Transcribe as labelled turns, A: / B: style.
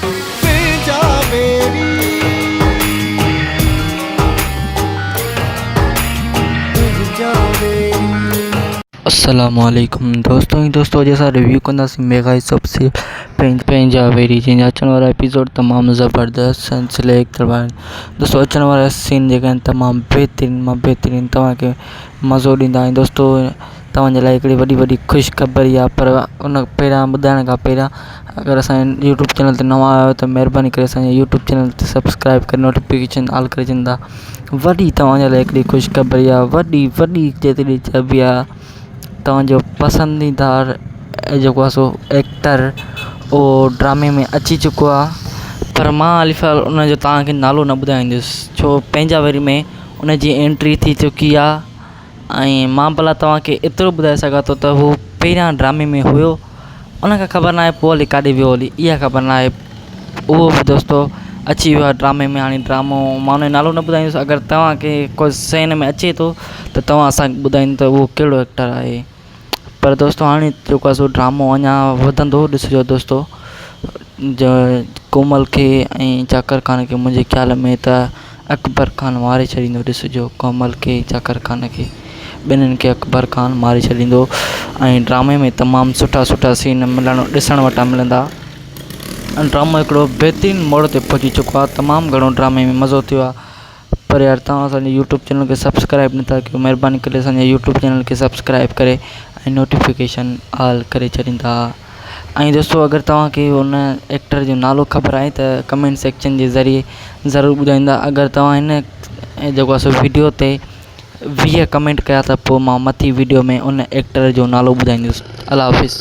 A: تنهنجا ويري تنهنجا ويري. السلام عليڪم دوستو ۽ دوستو اڄ اسان ريويو ڪنداسين ميگا ايس اپ سي پنهنجا ويري جنهن جا اچڻ وارا ايپيسوڊ تمام زبردست ۽ سليڪٽ ٿيل آهن دوستو اچڻ وارا سين جيڪي آهن تمام بهترين مان بهترين توهان کي مزو ڏيندا ۽ دوستو توهان جي لاء هڪڙي وڏي وڏي خوش خبر هي پر ان پهريان ٻڌائڻ کان پهريان اگر اسان جي يوٽيوب چينل تي نوان آيا آهيو ته مهرباني ڪري اسان جي يوٽيوب چينل تي سبسڪرائب ڪري نوٽيفڪيشن آل ڪري ڇڏيندا وڏي توهان جي لاء هڪڙي خوش خبر هي وڏي وڏي جيتري چئبي آ توهان جو پسنديده جيڪو آ سو ايڪٽر اهو ڊرامي ۾ اچي چڪو آ پر مان علي فال ان جو توهان کي نالو نه ٻڌائيندس ڇو پنهنجا ويري ۾ ان جي اينٽري ٿي چڪي آ ۽ مان ڀلا توهان کي ايترو ٻڌائي سگهان ٿو ته هو پهريان ڊرامي ۾ هيو ان کي خبر ناهي پوء هلي ڪاڏي ويو هلي اها خبر ناهي اهو به دوستو اچي ويو آهي ڊرامي ۾ هاڻي ڊرامو مان ان جو نالو نه ٻڌائيندس اگر توهان کي ڪو سين ۾ اچي ٿو ته توهان اسان کي ٻڌائيندو ته اهو ڪهڙو ايڪٽر آهي پر دوستو هاڻي جيڪو آهي سو ڊرامو اڃا وڌندو ڏسجو دوستو جو ڪومل کي ۽ چاڪر خان کي منهنجي خيال ۾ ته اڪبر خان ماري ڇڏيندو ڏسجو ڪومل کي چاڪر خان کي ٻنهي کي اڪبر خان ماري ڇڏيندو ۽ ڊرامي ۾ تمام سٺا سٺا سين ملڻ ڏسڻ وٽان ملندا ڊرامو هڪڙو بهترين موڙ تي پهچي چڪو آهي تمام گهڻو ڊرامي ۾ مزو ٿيو آهي پر يار توهان اسان جي يوٽيوب چينل کي سبسڪرائب نه ٿا ڪيو مهرباني ڪري اسان جي يوٽيوب چينل کي سبسڪرائب ڪري ۽ نوٽيفڪيشن آل ڪري ڇڏيندا ۽ دوستو اگر توهان کي ان ايڪٽر جو نالو خبر آهي ته ڪمينٽ سيڪشن جي ذريعي ضرور ٻڌائيندا اگر توهان هن ۽ جيڪو اسان ويڊيو تي ويهه ڪمينٽ ڪيا ته پوء مان مٿي ويڊيو ۾ ان ايڪٽر جو نالو ٻڌائيندس الله حافظ